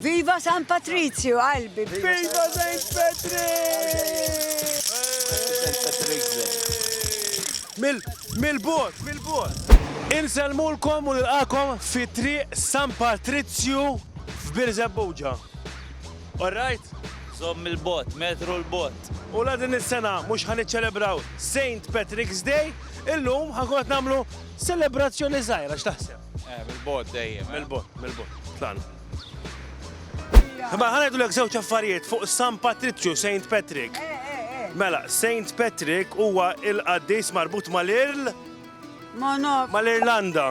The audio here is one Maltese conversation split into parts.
Viva San Patrizju qalbi. Viva Saint Patrick! Mil bot, mil bot. Insellmulkom u nilqakom fi triq San Patrizju f'Birżebbuġa. All right? Żomm mil bot, metru l bot. U la din is-sena mhux ħa niċċelebraw Saint Patrick's Day, illum ħa nkun qed nagħmlu selebrazzjoni żgħira, x'taħseb? Eh, mil bot dejjem. Mil bot, mil bot. Tlaqna. Ma ħanajdu l żewġ affarijiet fuq San Patriċċju, Saint Patrick. Eh, eh, eh. Mela, Saint Patrick huwa il-qaddis marbut mal-Irl. Mal-Irlanda.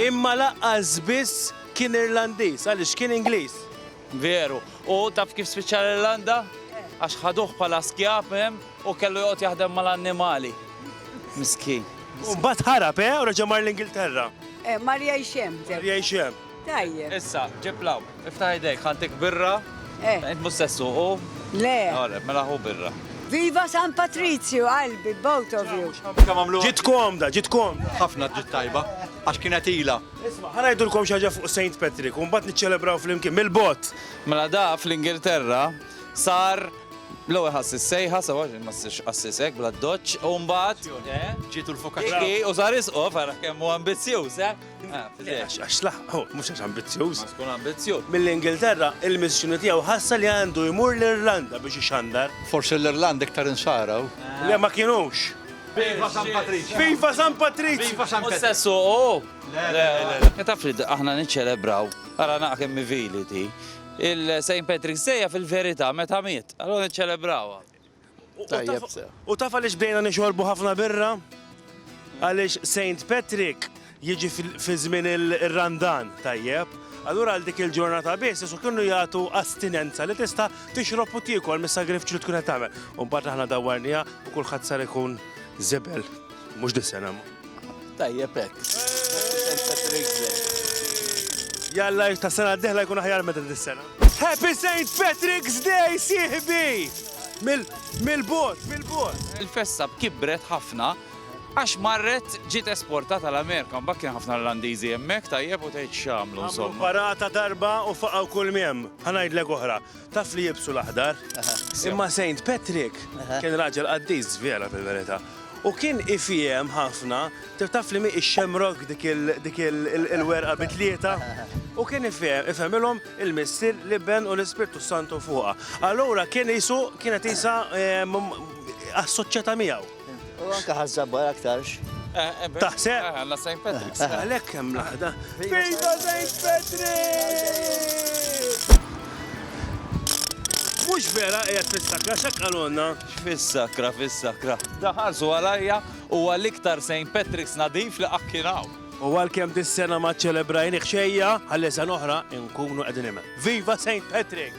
Imma laqqas biss kien Irlandiż, għaliex kien Ingliż. Veru. U taf kif spiċċa l-Irlanda? Għax ħaduh bħala skjav hemm u kellu joqgħod jaħdem mal-annimali. Miskin. U mbagħad ħarab, eh? U reġa' mar l-Ingilterra. Eh, mar jgħix hemm. Mar jgħix hemm. Tajjeb. Issa, ġib law, iftaħ idejk, ħantik birra. Eh. Int mhux sessu, u? Le. Għalek, mela ħu birra. Viva San Patrizju, qalbi, both of you. Ġit komda, ġit komda. Ħafna ġit tajba, għax kienet ila. Isma', ħa ngħidulkom xi ħaġa fuq Saint Patrick u mbagħad niċċelebraw flimkien, mill-bogħod! Mela da fl-Ingilterra sar l-ewwel ħassis sejħa sewwa xi ma ssirx qassis hekk bl-addoċċ u mbagħad Ġietu l-fokazz. Ġie u sar isqof ara kemm hu ambizzjuż, eh? Għax laħaq, oh, mhux għax ambizzjuż. Għax tkun ambizzjuż. Mill-Ingilterra, il-missjoni tiegħu ħassa li għandu jmur l-Irlanda biex ixandar. Forsi l-Irlanda iktar insaraw. Le ma kinux. Viva San Patriċċju! Viva San Patriċċju! Viva San Patriċċju! Mhux se ssuqu? Le, le, le. Taf li aħna niċċelebraw, ara naqgħa kemm hi vili di, il-St. Patrick's Day hija fil-verità meta miet, allura niċċelebrawha. U taf għaliex bdejna nixorbu ħafna birra? Għaliex St. Patrick jiġi fi żmien ir-Randan, tajjeb, allura għal dik il-ġurnata biss Ġesù kienu jagħtu astinenza li tista' tixrob u tiekol mis-sagrifiċċju li tkun qed tagħmel. U mbagħad aħna dawwarniha u kulħadd sar ikun żebel. Mhux disen hemm. Tajjeb hekk. Jalla ta' sena d-dieħla jkun aħjar meta dis-sena. Happy St. Patrick's Day, sieħbi! Mill-bot, mill-bot. Il-festa kibret ħafna Għax marret ġiet esportata l-Amerika, mbagħad kien ħafna Irlandiżi hemmhekk, tajjeb, u tgħid x'għamlu insomma. Għamlu parata darba u faqgħu kull miem. Ħa ngħidlek oħra, taf li jilbsu l-aħdar? Imma Saint Patrick kien raġel qaddis żvela fil-verità. U kien ifiehem ħafna, taf li mhi x-xemrogg dik il-werqa bi tlieta? U kien ifehmilhom il-Missier, l-Iben u l-Ispirtu s-Santu fuqha. Allura kien qisu kienet qisha assoċjata miegħu. U anke ħażżabbar aktarx. Taħseb? Għanna St. Patrick's. Għalek hemm laħda. Viva St. Patrick! Mux vera qiegħed fis-sakra x'akkalonna. Fis-sakra, fis-sakra. Daħarsu għalajja u għal-iktar St. Patrick's nadif li qakkinaw. U għal-kem dis-sena ma ċelebrajni xejja, għal-lesan oħra nkunu qegħdin Viva St. Patrick!